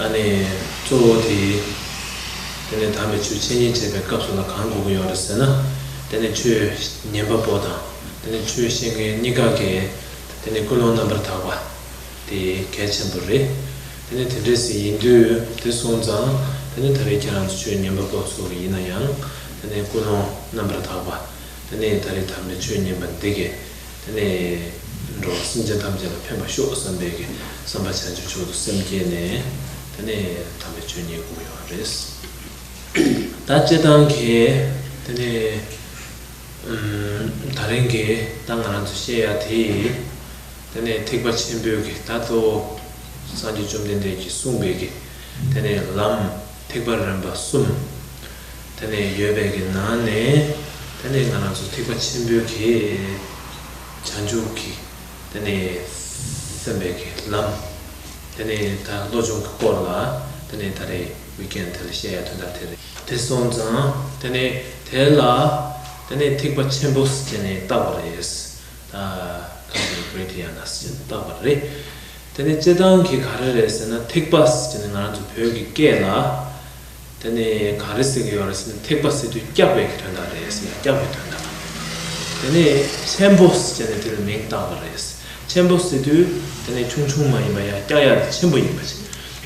ཨཱ་ནི། གཙོ་བོ་དེ། དེ་ནས་དམ་པའི་ཆོས་འཆད་ཉན་བྱེད་པའི་སྐབས་སུ་ལ་གང་དགོས་ཀྱི་ཡོད་རེད་ཟེར་ན། དེ་ནི་ཆོས་ཉན་པ་པོ་དང་དེ་ནི་ཆོས་བཤད་མཁན་གཉིས་ཀ་གི། དེ་ནི་ཀུན་སློང་རྣམ་པར་དག་པ། དེ་གལ་ཆེན་པོ་རེད། དེ་ནི་དེ་འདྲའི་ཟིན་ཡིན་དུས་དེ་སོང་ཙང་དེ་ནི་ད་རེས་ཁྱེད་རང་ཚོ་ཆོས་ཉན་པ་པོ་ཚོ་གི་ཡིན་ན་ཡང། དེ་ནི་ཀུན་སློང་རྣམ་པར་དག་པ། དེ་ནི་ད་རེས་དམ་པའི་ཆོས་ཉན་པ་འདི་གི་དེ་ནས་འགྲོ་བ་སེམས་ཅན་ཐམས་ཅད་ལ་ཕན་པར་ཤོག་བསམ་པས་གི་བསམ་པ་བྱང་ཆུབ་མཆོག་ཏུ་སེམས་བསྐྱེད་ནས། དེ་ནས་དམ་པའི་ཆོས་ཉིད་བསྒོམ་ཡོང་བ་རེད། ད་སྤྱིར་བཏང་གི་དེ་ནས་ད་རིང་གི་ད་ང་རང་ཚོ་བཤད་ཡ་དེ་དེ་ནས་ཐེག་པ་ཆེན་པོའི་གི་ད་གཙོ་བོ་སངས་རྒྱས་བཅོམ་ལྡན་འདས་ཀྱིས་གསུངས་པའི་གི་དེ་ནས་ལམ། ཐེག་པ་རིམ་པ་གསུམ། ད་ནི་ཡོད་པའི་གི་ནང་ནས། ད་ནི་ང་རང་ཚོ་ཐེག་པ་ཆེན་པོའི་གི། བྱང་ཆུབ་ཀྱི་ད་ནི་སེམས་པའི་གི་ལམ། ད་ནི་ད་བློ་སྦྱོང་གི་སྐོར་ལ་ད་ནི་ད་རེ་བི་ཀན་ཐལ་བཤད་ཡ་དོན་དག་དེ་རེད། དེ་སོང་ཙང་ད་ནི་དེ་ལ་ད་ནི་ཐེག་པ་ཆེན་པོ་ཟེར་ནས་བཏགས་པ་རེད། ད་གང་ཟེར་བི་ཀན་ཐལ་བཤད་ཡ་ན་ཟེར་ནས་བཏགས་པ་རེད། དེ་ནི་བརྩེ་འདང་གིས་ག་རེ་རེད་ཟེར་ན་ཐེག་པ་ཟེར་ནི་ང་རང་ཚོ་བོད་ཀྱི་སྐད་ལ། དེ་ནི་ག་རེ་ཟེར་གྱི་ཡོད་རེད་ཟེར་ན་ཐེག་པ་ཟེར་དུས་སྐྱག་པའི་གི་དོན་དག་རེད་ཟེར་ཡང་སྐྱག་པའི་དོན་དག་གི་མིང་རེད། དེ་ནི་ཆེན་པོ་ཟེར་ནི་དེ་ལ་མིང་བཏགས་པ་རེད། ཆེན་པོ་ཟེར་དུས་དེ་ནི་ཆུང་ཆུང་མ་ཡིན་པ་ཡང་སྐྱག་ཡག་དེ་ཆེན་པོ་ཡིན་པ་རེད།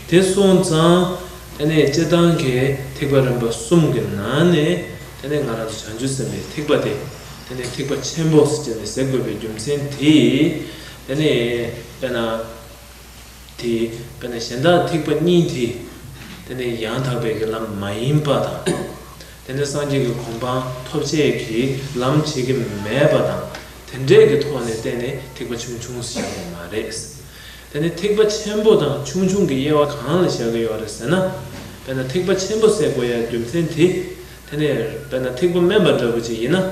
དེ་སོང་ཙང། དེ་ནི་བརྩེ་འདང་གི་ཐེག་པ་རིམ་པ་གསུམ་གྱི་ནང་ནས་དེ་ནི་ང་རང་ཚོ་བྱང་ཆུབ་སེམས་པའི་ཐེག་པ་དེ། དེ་ནི་ཐེག་པ་ཆེན་པོ་ཟེར་ནི་ཟེར་དགོས་པའི་རྒྱུ་མཚན་དེ། དེ་ནས་དཔེར་ན། དེ་དཔེར་ན་གཞན་དག་ཐེག་པ་གཉིས་དེ། དེ་ནི་ཡང་དག་པའི་གི་ལམ་མ་ཡིན་པ་དང། དེ་ནི་སངས་རྒྱས་ཀྱི་གོ་འཕང་ཐོབ་བྱེད་ཀྱི་ལམ་བྱེད་ཀྱི་མེད་པ་དང་དེ་འདྲས་ཀྱི་ཐོག་ནས་བལྟས་ནས་ཐེག་པ་ཆུང་ཆུང་ཞེས་བྱ་བ་མ་རེད། དེ་ནི་ཐེག་པ་ཆེན་པོ་དང་ཆུང་ཆུང་གི་དབྱེ་བ་གང་ལ་བཞག་གི་ཡོད་རེད་ཟེར་ན། དཔེར་ན་ཐེག་པ་ཆེན་པོ་སའི་གོ་ཡའི་རྒྱུ་མཚན་དེ། དེ་ནས་དཔེར་ན་ཐིག་པ་དམན་པ་འདྲ་བོ་ཅིག་ཡིན་ན།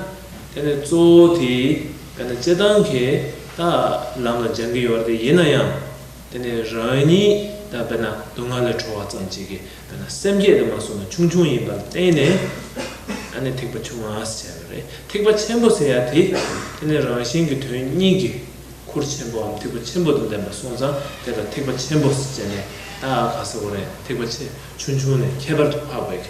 དེ་ནི་གཙོ་བོ་དེས་དཔེར་ན་སྤྱི་བཏང་གི་དག་ལམ་ལ་སྦྱང་གི་ཡོད་དེ་ཡིན་ན་ཡང། དེ་ནི་རང་ཉིད་དང་དཔེར་ན་སྡུག་བསྔལ་ལས་གྲོལ་བ་ཙམ་གྱིས་ཀྱི་དཔེར་ན་སེམས་བསྐྱེད་དུ་མ་སོང་ན་ཆུང་ཆུང་ཡིན་པ་ལ་བརྟེན་ནས། ཨ་ནི་ཐིག་པ་ཆུང་ངག་ཟེར་བ་རེད་ཐིག་པ་ཆེན་པོ་ཟེར་ཡ་དེ། དེ་ནི་རང་བཞིན་གྱི་དོན་སྙིང་གི་ཁུར་ཆེན་པོའམ་ཐིག་པ་ཆེན་པོ་དང་ལྡན་པ་སོང་ཙང་དེ་ལ་ཐིག་པ་ཆེན་པོ་ཟེར་ནས་དག་ག་ཟེར་བ་རེད་ཐིག་པ་ཆེ་ཆུང་ཆུང་ནས་ཁྱད་པར་དུ་འཕགས་པའི་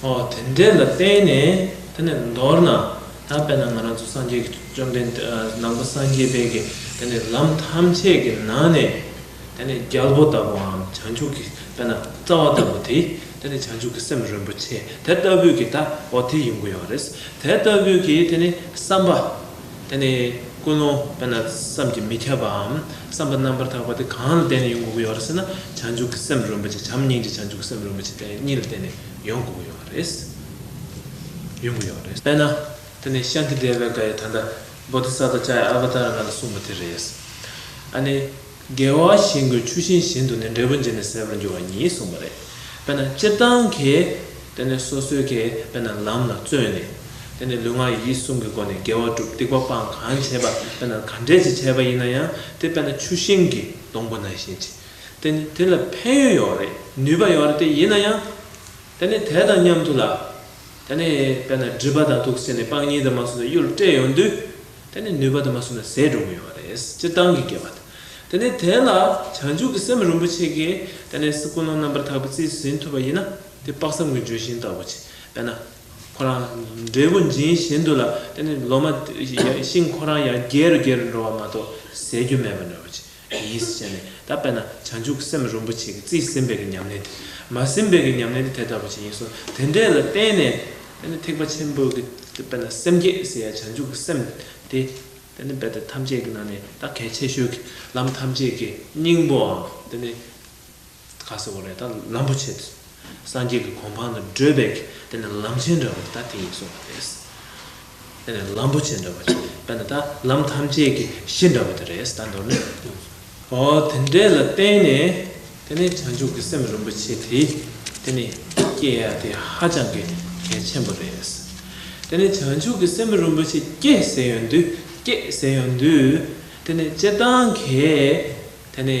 དེ་འདྲས་ལ་བརྟེན་ནས་དེ་ནས་མདོར་ན་ད་བལྟ་ང་རང་ཚོ་སངས་རྒྱས་ཀྱི་བཅོམ་ལྡན་འདས་ནང་པ་སངས་རྒྱས་པའི་གི་དེ་ནས་ལམ་ཐམས་ཅད་ཀྱི་ནང་ནས་དེ་ནས་རྒྱལ་པོ་ལྟ་བུའམ་བྱང་ཆུབ་ཀྱི་དཔལ་ན་རྩ་བ་ལྟ་བུ་དེ་དེ་ནས་བྱང་ཆུབ་ཀྱི་སེམས་རིན་པོ་ཆེ་དེ་ལྟ་བུས་ཀྱི་ད་འོ་དེ་ཡིན་དགོས་ཡོད་རེད། དེ་ལྟ་བུས་ཀྱི་དེ་ནས་བསམ་པ། དེ་ནི་ཀུན་སློང་དཔེར་ན་བསམ་གྱིས་མི་ཁྱབ་པའམ་བསམ་པ་རྣམ་པར་དག་པ་དེ་གང་ལ་བརྟེན་ནས་ཡོང་དགོས་ཀྱི་ཡོད་རེད་ཟེར་ན་བྱང་ཆུབ་ཀྱི་སེམས་རིན་པོ་ཆེ་བྱམས་སྙིང་རྗེ་བྱང་ཆུབ་ཀྱི་སེམས་རིན་པོ་ཆེ་དེ་གཉིས་ལ་བརྟེན་ནས་ཡོང་དགོས་ཀྱི་ཡོད་རེད། ཡོང་གི་ཡོད་རེད། དཔེར་ན། དེ་ནི་ཤངས་ཀྱི་སྡེ་བའི་བཀའ་ཡི་དམ་པ་བོ་དྷི་ས་ཏྭ་བཅའ་ཡི་ཨ་བྷ་ཏཱར་རྣམས་སུ་གསུངས་པ་དེ་རེད། ཨ་ནི། འགལ་བ་ཞིག་འགོས་ཆུ་ཤིང་བཞིན་དུ་ནི་འབྲས་བུ་འབྱིན་ནས་ཟད་པར་འགྱུར་བ་ཉིད་གསུངས་པ་རེད། དཔེར་ན་སྤྱིར་བཏང་གི་དེ་ནི་སོ་སོའི་གི་དཔེར་ན་ལམ་ལ་བརྩོན་ནས། དེ་ནི་ལུས་ངག་ཡིད་གསུམ་གྱི་སྒོ་ནས་དགེ་བ་བསྒྲུབ་སྡིག་པ་སྤང་གང་བྱེད་པ་དཔེར་ན་ག་འདྲས་ཀྱི་བྱས་པ་ཡིན་ན་ཡང་དེ་དཔེར་ན་ཆུ་ཤིང་གི་སྡོང་པོ་ན་བཞིན་གྱི་དེ་ནི་དེ་ལ་ཕན་ཡོན་ཡོད་རེད་ནུས་པ་ཡོད་རེད་དེ་ཡིན་ན་ཡང། དེ་ནི་དེ་དང་མཉམ་དུ་ལ། དེ་ནི་དཔེར་ན་སྒྲིབ་པ་དང་དུག་སེལ་ནི་སྤང་གཉེན་དུ་མ་སོང་ནས་གཡུལ་སྤྲད་ཡོང་དུས་དེ་ནི་ནུས་པ་དུ་མ་གསུམ་ལ་ཟས་འགྲོ་གི་ཡོད་པ་རེད་སྤྱིར་བཏང་གི་སྐྱེས་པ་དེ་དེ་ནི་དེ་ལ་བྱང་ཆུབ་ཀྱི་སེམས་རིན་པོ་ཆེ་གིས་དེ་ནི་སྲིད་ཀུན་སློང་རྣམ་པར་དག་པའི་རྩིས་སུ་ཟིན་ཐུབ་པ་ཡིན་ན་དེ་དཔག་བསམ་གྱི་ལྗོན་ཤིང་ལྟ་བུ་བྱས་པས་ན་ཁོ་རང་འབྲས་བུ་འབྱིན་བཞིན་དུ་ལ་དེ་ནི་ལོ་མ་ཤིང་ཁོ་རང་ཡང་རྒྱས་རུ་རྒྱས་རུ་འགྲོ་བ་མ་གཏོགས་ཟད་རྒྱུ་མེད་པར་འགྲོ་བ་བྱས། གི་ཡིད་བཞིན་ཅན་ནི་ད་པས་ན་བྱང་ཆུབ་སེམས་རིན་པོ་ཆེ་གི་རྩིས་ཟིན་པའི་གི་ཉམས་ལེན་དེ། མ་ཟིན་པའི་གི་ཉམས་ལེན་དེ་དེ་ལྟ་བུ་ཅན་ཡིན་གསུང་དེ་འདྲས་ལ་བརྟེན་ནས་དཔེར་ན་ཐེག་པ་ཆེན་པོའི་གི་ད་པས་ན་སེམས་བསྐྱེད་ཟེར་ཡ་བྱང་ཆུབ་ཀྱི་སེམས་དེ། དེ་ནི་རྦད་དེ་ཐམས་ཅད་ཀྱི་ནང་ནས་ད་གལ་ཆེ་ཤོས་ཀྱི་ལམ་ཐམས་ཅད་ཀྱི་སྙིང་པོའང་དེ་ནི། ཁ་སེར་བོ་རེད་ད་ལམ་པོ་ཆེ་སངས་རྒྱས་ཀྱི་གོང་འཕང་ལ་བགྲོད་པའི་དེ་ནི་ལམ་ཆེན་འདྲ་བོ་ད་དེ་ཡིན་གསུངས་པ་རེད། དེ་ནི་ལམ་པོ་ཆེ་འདྲ་བོ་ཆེ་ད་ནི་ད་ལམ་ཐམས་ཅད་ཀྱི་གཞི་འདྲ་བོ་དེ་རེད་ད་མདོར་ན་ཨོ་དེ་འདྲས་ལ་བརྟེན་ནས་དེ་ནི་བྱང་ཆུབ་ཀྱི་སེམས་རིན་པོ་ཆེ་དེ་དེ་ནི་སྐྱེ་ཡ་དེ་ཧ་ཅང་གི་གལ་ཆེན་པོ་རེད། དེ་ནི་བྱང་ཆུབ་ཀྱི་སེམས་རིན་པོ་ཆེ་སྐྱེ་ཟེར་ཡོང་དུས་སྐྱེས་ཟེར་ཡོང་དུས་དེ་ནི་སྤྱིར་བཏང་གི་དེ་ནི།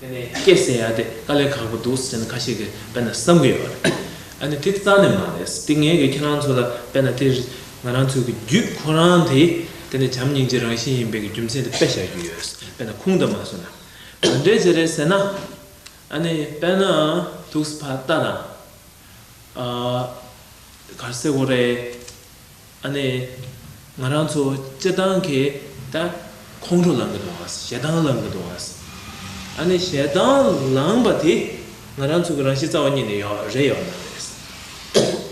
དེ་ནས་སྐད་གསལ་ཡག་དེ་དཀའ་ལས་ཁག་པོ་འདུག་ཟེར་ནས་ཁ་ཤས་ཀྱིས་དཔེར་ན་བསམ་གྱི་ཡོད་རེད། ཨ་ནི་དེ་རྩ་ནས་མ་རེད། དེ་ངས་ཀྱིས་ཁྱེད་རང་ཚོ་ལ་དཔེར་ན་དེ་ང་རང་ཚོའི་གི་རྒྱུད་ཁོ་རང་དེ་དེ་ནས་བྱམས་སྙིང་རྗེ་རང་བཞིན་ཡིན་པའི་གི་རྒྱུ་མཚན་དེ་དཔེ་བཞག་རྒྱུ་ཡོད། དཔེར་ན་ཁུངས་དང་མ་སོ་ན་ག་འདྲའི་བྱེད་རེད་ཟེར་ན། ཨ་ནི་དཔེར་ན་དུག་སེལ་ཕ་རྟ་དང། གར་སེལ་ཨོ་རེད། ཨ་ནེ། ང་རང་ཚོ་སྤྱི་བཏང་གི་ད་ཁོང་ཁྲོ་ལང་གི་འདུག་ཞེ་སྡང་ལང་གི་འདུག་ཨ་ནེ་ཞེ་སྡང་ལང་པ་དེ་ང་རང་ཚོ་གི་རང་གཤིས་རྩ་བ་ཉིད་ནས་ཡོག་རེད་ཡོག་ན་རེད།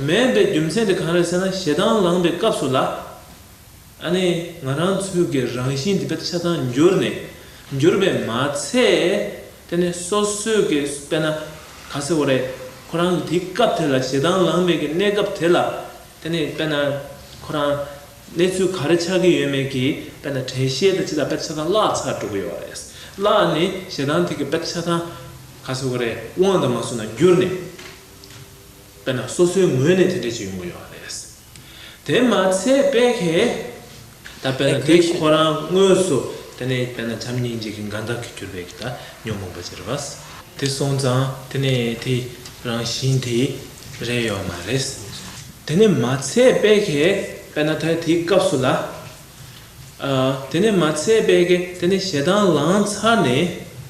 མེད་པའི་རྒྱུ་མཚན་དེ་གང་རེད་ཟེར་ན་ཞེ་སྡང་ལང་པའི་སྐབས་སུ་ལ་ཨ་ནེ་ང་རང་ཚོ་གི་རང་གཤིས་འདི་དཔེ་ཆ་ཚང་འགྱུར་ནས་འགྱུར་བས་མ་ཚད་དེ་ནས་སོ་སོས་ཀྱི་དཔེ་ན་ག་ཚོད་རེད་ཁོ་རང་གི་དེ་སྐབས་དེ་ལ་ཞེ་སྡང་ལང་མེད་ཀྱི་གནས་སྐབས་དེ་ལ། དེ་ནི་དཔེར་ན། ཁོ་རང། གནས་ཚུལ་ག་རེ་ཆགས་ཀྱི་ཡོད་མེད་ཀྱིས་དཔེར་ན་དྲན་ཤེས་དང་སྤྱི་ལ་དཔེར་ཆ་ཚང་བརླག་ཚར་འགྲོ་གི་ཡོད་རེད། བརླག་ནས་ཞེ་སྡང་ཐིག་གི་དཔེར་ཆ་ཚང། ག་ཚོད་ཀ་རེ་དབང་དང་མ་བཟོ་ན་འགྱུར་ནས། དཔེར་ན་སོ་སོའི་ངོས་ནས་དེ་འདྲས་ཅིག་ཡོང་གི་ཡོད་རེད། དེ་མ་ཚད་དཔེ་ཁའི། ད་བས་ན་དེ་ཁོ་རང་དངོས་སུ་དེ་ནས་བས་ན་བྱམས་སྙིང་རྗེ་གི་མགའ་འདག་གིས་གྱུར་པའི་གི་ད་ཉོན་མོངས་པ་ཅི་རེ་བ། དེ་སོང་ཙང་དེ་ནས་དེ་རང་བཞིན་དེ་རེད་ཡོད་མ་རེད། དེ་ནས་མ་ཚད་དཔལ་ཁས་བས་ན་ད་དེའི་སྐབས་སུ་ལ། དེ་ནས་མ་ཚད་དཔལ་ཁས་དེ་ནས་ཞེ་སྡང་ལངས་ཚར་ནས།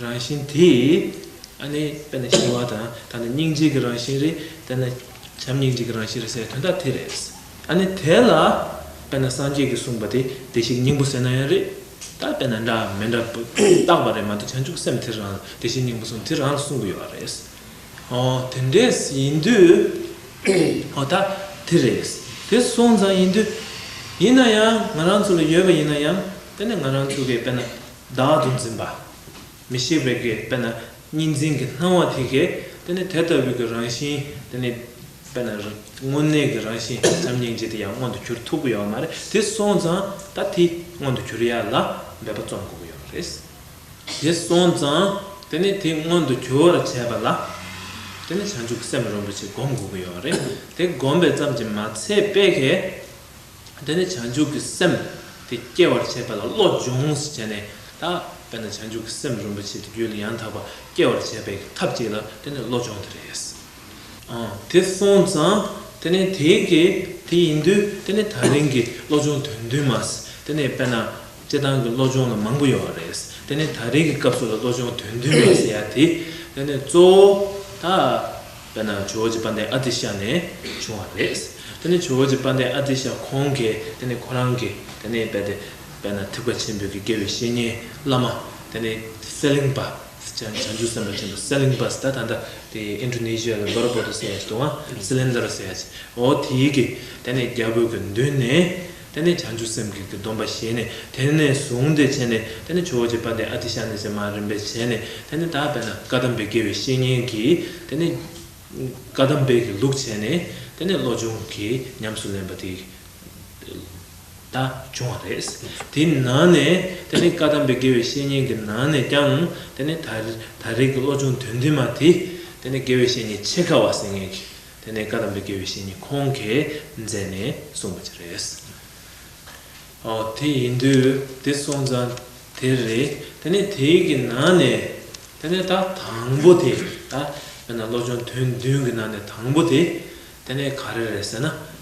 རང་བཞིན་དེ། ཨ་ནི་དཔེར་ན་ཞི་བ་དང་ད་ནི་སྙིང་རྗེ་གི་རང་བཞིན་རེད། དཔེར་ན། བྱམས་སྙིང་རྗེ་གི་རང་བཞིན་རེད་ཟེར་བའི་དོན་དག་དེ་རེད། ཨ་ནི་དེ་ལ། དཔེར་ན་སངས་རྒྱས་ཀྱིས་གསུངས་པ་དེ་བདེ་གཤེགས་སྙིང་པོ་ཟེར་ན་ཡང་རེད། ད་དཔེར་ན་འདྲ་མི་འདྲ་བརྟག་པ་རེད་མ་གཏོགས་བྱང་ཆུབ་སེམས་དེ་རང་ལ་བདེ་གཤེགས་སྙིང་པོ་གསུངས་དེ་རང་ལ་གསུངས་གི་ཡོད་པ་རེད། ཨོ་དེ་འདྲས་ཡིན་དུས། ཨོ་ད་དེ་རེད། དེ་གསུངས་ཙང་ཡིན་དུས། ཡིན་ན་ཡང་ང་རང་ཚོ་ལ་ཡོད་པ་ཡིན་ན་ཡང་དཔེར་ན་ང་རང་ཚོ་གིས་དཔེར་ན། བདག་ཏུ་འཛིན་པ། མི་ཤེས་པའི་གེགས་པས་ན་གཉིས་འཛིན་གྱི་སྣང་བ་དེ་གེགས་དེ་ནི་དེ་ལྟ་བུའི་གི་རང་བཞིན་དེ་ནི། པས་ན། དངོས་གནས་ཀྱི་རང་བཞིན་ནམ་སྙིང་རྗེ་དེ་ཡང་མངོན་དུ་གྱུར་ཐུབ་ཀྱི་ཡོད་མ་རེད་དེ་སོང་ཙང་ད་དེ་མངོན་དུ་གྱུར་ཡ་ལ་འབད་པ་རྩོམ་དགོས་ཀྱི་ཡོད་མ་རེད། དེ་སོང་ཙང་དེ་ནི་དེ་མངོན་དུ་གྱུར་བར་བྱས་པ་ལ། དེ་ནི་བྱང་ཆུབ་སེམས་རིན་པོ་ཆེ་བསྒོམ་དགོས་ཀྱི་ཡོད་རེད་དེ་བསྒོམ་པའི་ཙམ་གྱིས་མ་ཚད་པས་གེགས། དེ་ནས་བྱང་ཆུབ་ཀྱི་སེམས་དེ་སྐྱེ་བར་བྱེད་པ་ལ་བློ་སྦྱོངས་བྱས་ནས། ད་བས་ན་བྱང་ཆུབ་ཀྱི་སེམས་རིན་པོ་ཆེ་དེ་རྒྱུད་ལ་ཡང་དག་པར་སྐྱེ་བར་བྱེད་པའི་ཐབས་ཅིག་ལ་དེ་ནི་བློ་སྦྱོང་དེ་རེད། དེ་སོང་ཙང་དེ་ནས་དེ་གི་དེ་ཡིན་དུས་དེ་ནི་ད་རིང་གི་བློ་སྦྱོང་དོན་བདུན་མ་དེ་ནས་བས་ན་སྤྱི་བཏང་གི་བློ་སྦྱོང་ལ་མང་པོ་ཡོད་པ་རེད། དེ་ནི་ད་རིང་གི་སྐབས་སུ་ལ་བློ་སྦྱོང་དོན་བདུན་མ་ཟེར་ཡ་དེ་ནི་གཙོ་བོ་ད། ཡང་ན་ཇོ་བོ་རྗེ་དཔལ་ལྡན་ཨ་ཏི་ཤ་ནས་བྱུང་བ་རེད། དེ་ནི་ཇོ་བོ་རྗེ་དཔལ་ལྡན་ཨ་ཏི་ཤ་ཁོང་གིས་དེ་ནི་ཁོ་རང་གི་དེ་ནི་དཔལ་ལྡན་དཔལ་ན་ཐིག་པ་ཆེན་པོའི་གི་དགེ་བའི་བཤེས་གཉེན་བླ་མ་དེ་ནི་སེ་ལིང་པ་སི་བྱང་ཆུབ་སེམས་དཔའ་ཆེན་པོ་སེ་ལིང་པ་སི་ད་ད་ད་དེ Indonesia གི་འབར་བོ་ཏོ་སེ་ཡ་ཆི་དུ་ཨ་སི་ལིན་དར་སེ་ཡ་ཆི་འོ་དེའི་གི་དེ་ནི་རྒྱལ་པོའི་གི་མདུན་ནས་དེ་ནས་བྱང་ཆུབ་སེམས་བསྐྱེད་ཀྱི་སྡོམ་པ་བཞེས་ནས་དེ་ནས་བཟུང་སྟེ་བྱས་ནས་དེ་ནས་ཇོ་བོ་རྗེ་དཔལ་ལྡན་ཨ་ཏི་ཤ་ནི་ཟེར་མ་རིན་པོ་ཆེ་ནི་དེ་ནི་དག་པས་ན་བཀའ་གདམས་པའི་དགེ་བའི་བཤེས་གཉེན་གྱིས་དེ་ནི། བཀའ་གདམས་དཔལ་གྱི་ལུགས་བྱས་ནས་དེ་ནས་བློ་སྦྱོང་གིས་ཉམས་སུ་ལེན་པ་དེ་ད་བྱུང་བ་རེད། དེའི་ནང་ནས་དེ་ནི་བཀའ་གདམས་པའི་དགེ་བའི་བཤེས་གཉེན་གྱི་ནང་ནས་ཀྱང་དེ་ནི་ད་རེས་ཀྱི་བློ་སྦྱོང་དོན་ལྡན་མ་དེ་དེ་ནི་དགེ་བའི་བཤེས་གཉེན་ཆེས་དཀའ་བ་ཟེར་ངེས་ཀྱི་དེ་ནས་བཀའ་གདམས་པའི་དགེ་བའི་བཤེས་གཉེན་ཁོང་གིས་མཛད་ནས་གསུངས་པ་ཅི་རེད། ཨོ་དེ་ཡིན་དུས་དེ་གསུངས་ཙང་དེ་རེད། དེ་ནས་དེ་གི་ནང་ནས་དེ་ནས་ད་དང་པོ་དེ་ད་བོད་ན་བློ་སྦྱོང་དོན་བདུན་གི་ནང་ནས་དང་པོ་དེ་དེ་ནས་ག་རེ་རེད་ཟེར་ན།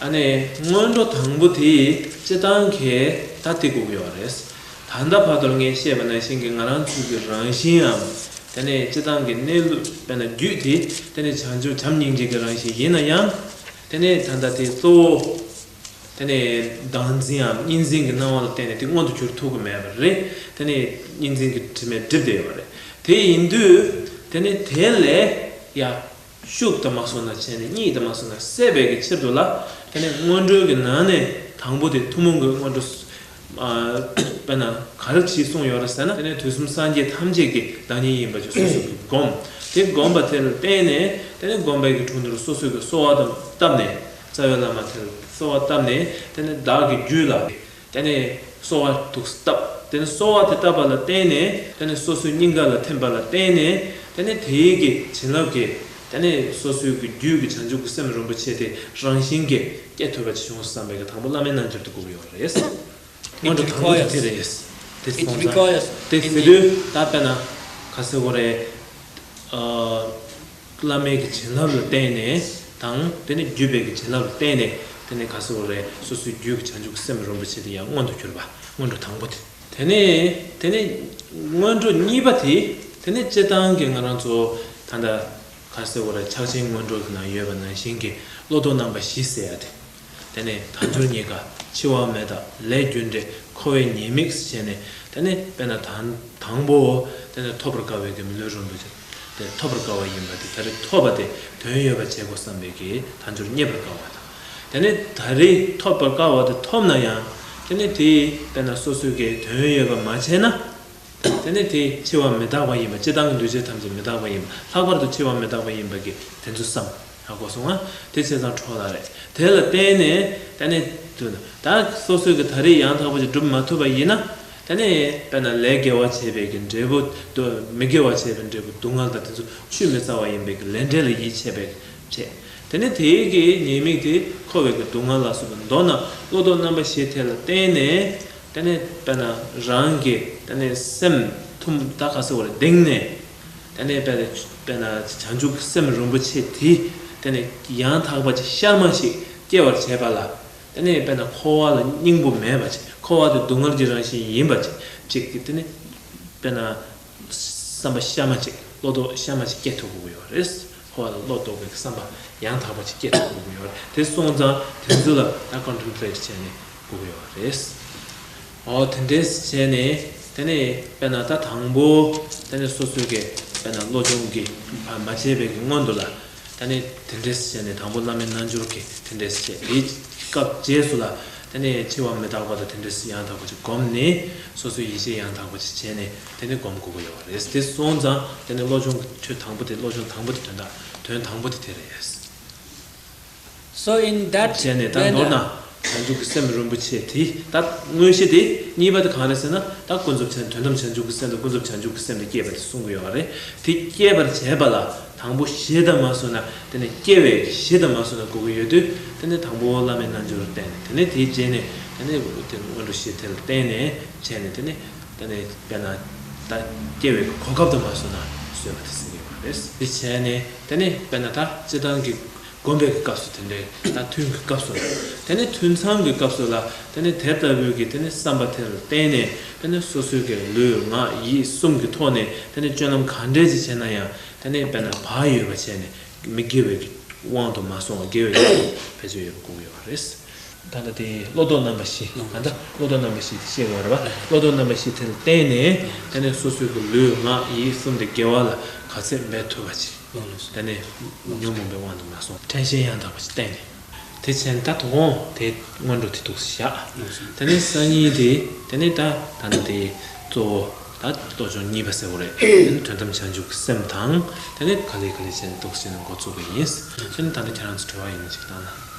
ཨ་ནེ། སྔོན་འགྲོ་དང་པོ་དེ་སྤྱི་བཏང་གི་ད་ལྟའི་སྒུག་ཡོད་པ་རེད། ད་ལྟ་བར་དོར་ངས་ཤེས་པ་ནང་བཞིན་གྱི་ང་རང་ཚུལ་གྱི་རང་བཞིནའམ་དེ་ནི་སྤྱི་བཏང་གི་གནས་ལུགས་དཔེར་ན་རྒྱུད་དེ་དེ་ནི་བྱང་ཆུབ་བྱམས་སྙིང་རྗེ་གི་རང་བཞིན་ཡིན་ན་ཡང། དེ་ནི་ད་ལྟ་དེ་གཙོ་བོ། དེ་ནི་བདག་འཛིནའམ་གཉིས་འཛིན་གྱི་སྣང་བ་ལ་བརྟེན་ནས་དེ་མངོན་དུ་གྱུར་ཐུབ་ཀྱི་མེད་པ་རེད། དེ་ནི་གཉིས་འཛིན་གྱི་དྲི་མས་བསྒྲིབས་བསྡད་ཡོད་པ་རེད། དེ་ཡིན་དུས། དེ་ནི་དེ་ལས་ཡག་ཤུགས་དང་མ་སོགས་ན་བྱས་ནས་གཉིས་དང་མ་སོགས་ན་བསད་པའི་ཀྱི་ཕྱིར་དུ་ལ། དེ་ནས་སྔོན་འགྲོའི་ཀྱི་ནང་ནས་དང་པོ་དེ་ཐུན་མོང་གི་སྔོན་འགྲོ། དཔེར་ན་ག་རེ་བྱིས་གསུངས་ཡོད་ར་ཟེར་ན་དེ་ནས་དུས་གསུམ་སངས་རྒྱས་ཐམས་ཅད་ཀྱི་བདག་ཉིད་ཡིན་པ་ཅི་སོ་སོ་ཀྱི་བསྒོམ། དེ་བསྒོམ་པ་དེ་ལ་བརྟེན་ནས་དེ་ནས་བསྒོམ་པའི་ཀྱི་དྲུང་དུ་སོ་སོའི་ཀྱི་གསོལ་བ་དང་བཏབ་ནས་རྩ་བའི་བླ་མ་དེ་ལ་གསོལ་བ་བཏབ་ནས་དེ་ནས་བདག་གི་རྒྱུད་ལ། དེ་ནས་གསོ་བ་དུག་བཏབ། དེ་ནས་གསོ་བ་དེ་བཏབ་པ་ལ་བརྟེན་ནས་དེ་ནས་སོ་སོའི་སྙིང་ག་ལ་ཐིམ་པ་ལ་བརྟེན་ནས་དེ་ནས་དེའི་གི་བྱིན་རླབས་ཀྱིས་དེ་ནས་སོ་སོའི་གི་རྒྱུད་ཀྱི་བྱང་ཆུབ་ཀྱི་སེམས་རིན་པོ་ཆེ་དེ་རང་བཞིན་གྱིས་སྐྱེ་ཐུབ་པ་ཅི་བྱུང་བསམ་པའི་གི་དང་པོ་བླ་མའི་རྣལ་འབྱོར་དུ་བསྒོམ་ཡོང་བ་རེད། སྔོན་འགྲོ་དང་པོ་དེ་དེ་རེད། དེ་སོང་ཙང་དེ་བེ་དོའི་ད་པེ་ན་ག་སེ་བོ་རེད། བླ་མེད་ཀྱི་བྱིན་རླབས་ལ་བརྟེན་ནས་དང། དེ་ནས་རྒྱུད་དཔལ་གྱི་བྱིན་རླབས་ལ་བརྟེན་ནས་དེ་ནས་ག་སོ་རེ་སོ་སོའི་རྒྱུད་ཀྱི་བྱང་ཆུབ་ཀྱི་སེམས་རིན་པོ་ཆེ་དེ་ཡང་སྔོན་དུ་གྱུར་པ་སྔོན་འགྲོ་དང་པོ་དེ། དེ་ནས་དེ་ནས་སྔོན་འགྲོ་གཉིས་པ་དེ། དེ་ནས་སྤྱི་བཏང་གི་ང་རང་ཚོ་ད་ལྟ་ག་སོ་རེ་ཕྱག་ཆེན་སྔོན་འགྲོ་གི་ནང་ཡོད་པ་ནང་བཞིན་གྱི་བློ་ལྡོག་རྣམ་པ་བཞི་གསལ་བ་དེ། དེ་ནས་དལ་འབྱོར་གཉིས་ཀ་འཆི་བ་མེད་དག་ལས་རྒྱུ་འབྲས་འཁོར་བའི་ཉེས་དམིགས་ཤེས་ནས་དེ་ནས་དཔེར་ན་དང་པོའོ། དེ་ནས་ཐོབ་པར་དཀའ་བའི་དེ་ལུས་རུང་དུ་བྱ། དེ་ཐོབ་པར་དཀའ་བ་ཡིན་པ་དེ་ད་རེས་ཐོབ་པ་དེ་དོན་ཡོད་པར་བྱེད་དགོས་བསམ་པའི་གིས་དལ་འབྱོར་རྙེད་པར་དཀའ་བ་དང། དེ་ནས་ད་རེས་ཐོབ་པར་དཀའ་བ་དེ་ཐོབ་ན་ཡང་དེ་ནས་དེས་དཔེར་ན་སོ་སོའི་གིས་དོན་ཡོད་པར་མ་བྱས་ན། དེ་ནི་དེ་འཆི་བ་མི་རྟག་པ་ཡིན་པ་སྤྱི་དང་གི་འདུས་བྱས་ཐམས་ཅད་མི་རྟག་པ་ཡིན་པ་ལྷག་པར་དུ་འཆི་བ་མི་རྟག་པ་ཡིན་པ་གི་དེ་ཚོ་བསམ། ཨ་གོ་སོང་ང། དེ་བྱས་ཙང་འཕྲོག་ལ་རེད། དེ་ལ་བརྟེན་ནས་ད་ནི། དུ་ན། ད་སོ་སོའི་གི་ད་རེས་ཡང་དག་པ་ཅིག་སྒྲུབ་མ་ཐུབ་པ་ཡིན་ན། ད་ནི་དཔེར་ན་ལས་དགེ་བ་བྱས་པའི་གི་འབྲས་བུ། དུ་མི་དགེ་བ་བྱས་པའི་འབྲས་བུ་སྡུག་བསྔལ་དང་དེ་ཚོ་ཆུད་མི་ཟ་བ་ཡིན་པས་གི་ལས་འབྲས་ལ་ཡིད་ཆེས་པས་གི་བྱས། དེ་ནི་དེའི་གི་ཉེས་དམིགས་དེ་འཁོར་བའི་གི་སྡུག་བསྔལ་ལ་སོགས་པ་མདོར་ན་བློ་ལྡོག་རྣམ་པ་བཞི་དེ་ལ་བརྟེན་ནས། ད་ནས་བལྟ་ན་རང་གི་ད་ནས་སེམས་ཐུམ་རྟགས་ཁ་གསལ་བོར་གདེང་ནས་ད་ནས་བལྟ་བལྟས་ན་བྱང་ཆུབ་སེམས་རིན་པོ་ཆེ་དེ་ད་ནས་ཡང་དག་པ་ཅིག་ཤར་མ་ཞིག་སྐྱེ་བར་བྱས་པ་ལ་ད་ནས་བལྟས་ན་འཁོར་བ་ལ་སྙིང་པོ་མེད་པ་ཅིག་འཁོར་བ་དེ་སྡུག་བསྔལ་གྱི་རང་བཞིན་ཡིན་པ་ཅིག་ཅིག་ད་ནས་བལྟས་ན། བསམ་པ་ཤར་མ་ཅིག་བློ་ལྡོག་ཤར་མ་ཅིག་སྐྱེ་ཐུབ་དགོས་ཀྱི་ཡོད་རེད། ཧོ་ལ་བློ་ལྡོག་གི་བསམ་པ་ཡང་དག་པ་ཅིག་སྐྱེ་ཐུབ་དགོས་ཀྱི་ཡོད་རེད། དེ་སོང་ཙང་དོན་ཚུལ་ལ་ད་ལྟ Contemplate བྱས་ནས་དགོས་ཀྱི་ཡོད་རེད། ཨོ་དེ་འདྲས་བྱས་ནས་དེ་ནས་དཔེར་ན་ད་དང་པོ་དེ་ནས་སོ་སོའི་གི་དཔེར་ན་བློ་སྦྱོང་གི་བར་མ་བྱས་པའི་གི་སྔོན་དུ་ལ་ད་ནི་དེ་འདྲས་བྱས་ནས་དང་པོ་བླ་མའི་རྣལ་འབྱོར་གྱིས་དེ་འདྲས་བྱས་དེའི་སྐབས་རྗེས་སུ་ལ་དེ་ནི་འཆི་བ་མི་རྟག་པ་དང་དེ་འདྲས་སུ་ཡང་དག་པ་ཅིག་བསྒོམས་ནས་སོ་སོའི་ཡེ་ཤེས་ཡང་དག་པ་ཅིག་བྱས་ནས་དེ་ནི་བསྒོམ་དགོས་པ་ཡོད་པ་རེད་དེ་སོང་ཙང་དེ་ནི་བློ་སྦྱོང་གི་ཆོས་དང་པོ་དེ་བློ་སྦྱོང་དང་པོ་དེ་དོན་དང་དོན་དང་པོ་དེ་དེ་རེད། སོ་ཨིན་དཱད་བྱས་ནས་ད་མདོར་ན་བྱང་ཆུབ་ཀྱི་སེམས་རིན་པོ་ཆེ་དེ་ད་དངོས་གཞི་དེ་གཉིས་པ་དེ་གང་རེད་ཟེར་ན་ད་ཀུན་རྫོབ་ཆེན་དོན་དམ་བྱང་ཆུབ་ཀྱི་སེམས་དང་ཀུན་རྫོབ་བྱང་ཆུབ་ཀྱི་སེམས་དེ་སྐྱེས་པ་དེ་གསུང་གི་ཡོད་རེད་དེ་སྐྱེས་པར་བྱས་པ་ལ་དང་པོ་གཞི་དང་མ་བཟུང་ན་དེ་ནི་སྐྱེ་བའི་གཞི་དང་མ་བཟུང་ན་དགོས་ཀྱི་ཡོད་དུས་དེ་ནི་དང་པོ་བླ་མའི་རྣལ་འབྱོར་བསྟན་ནས་དེ་ནས་དེའི་རྗེས་ནས་དེ་ནི་དེ་སྔོན་འགྲོ་གཞི་དེ་ལ་བརྟེན་ནས་བྱས་ནས་དེ་ནི་དེ་ནི་དཔེར་ན་ད་སྐྱེ་བའི་གོ་སྐབས་དང་མ་བཟུང་ན་བཟོད་པ་དེ་ཟིན་གྱི་ཡོད་རེད་དེ་བྱས་ནས་དེ་ནི་དཔེར་ན་ད་སྤྱི་དང་གི། བསྒོམ་པའི་སྐབས་སུ་དེ་འདྲའི་ད་ཐུན་གྱི་སྐབས་སུ་ལ་དེ་ནས་ཐུན་མཚམས་ཀྱི་སྐབས་སུ་ལ་དེ་ནས་དེ་ལྟ་བུའི་གྱི་དེ་ནས་བསམ་པ་དེ་ལ་བརྟེན་ནས་དེ་ནས་སོ་སོའི་གྱི་ལུས་ངག་ཡིད་གསུམ་གྱི་ཐོག་ནས་དེ་ནས་སྤྱོད་ལམ་ག་འདྲས་ཅི་བྱས་ན་ཡང་དེ་ནས་དཔེར་ན་བག་ཡོད་པ་བྱས་ནས་མི་དགེ་བའི་གྱི་དབང་དུ་མ་སོང་བ་དགེ་བའི་གྱི་དབང་དུ་ཕལ་ཆེར་ཡོད་པར་བསྒོམ་དགོས་པ་རེད། ད་ལྟ་དེ་བློ་ལྡོག་རྣམ་པ་བཞི་ད་ལྟ་བློ་ལྡོག་རྣམ་པ་བཞི་དེ་ཤེས་དགོས་རེད་པ་བློ་ལྡོག་རྣམ་པ་བཞི་དེ་ལ་བརྟེན་ནས་ད་ནས་སོ་སོའི་གི་ལུས་ངག་ཡིད་གསུམ་དེ་དགེ་བ་ལ་ག་ཚད་འབད་ཐུབ་པ་ཅིག་ད་ནས་ཉོན་མོངས་པའི་དབང་དུ་མ་སོང་དྲན་ཤེས་ཡང་དག་པ་ཞིག་བསྟེན་ནས་དེ་བྱས་ནས་ད་དོགས་འོང་དེ་སྔོན་འགྲོ་དེ་ཐུགས་སུ་བཞག་ད་ནས་སང་ཉིན་དེ་ད་ནས་ད་ད་ལྟ་དེ་གཙོ་བོ་ད་གཏོ་ཆོག་གཉིས་པ་ཟེར་བ་རེད་དེ་ནི་དོན་དམ་བྱང་ཆུབ་ཀྱི་སེམས་དང་ད་ནས་ག་ལེ་ག་ལེ་བྱས་ནས་གཏོགས་བྱས་ནས་འགོ་བཙུགས་པ་ཡིན་ད་ནི་ད་ལྟ་ཁྱེད་རང་ཚོ་གྲོལ་བ་ཡིན་ནི་ཞིག་བཏང་ན།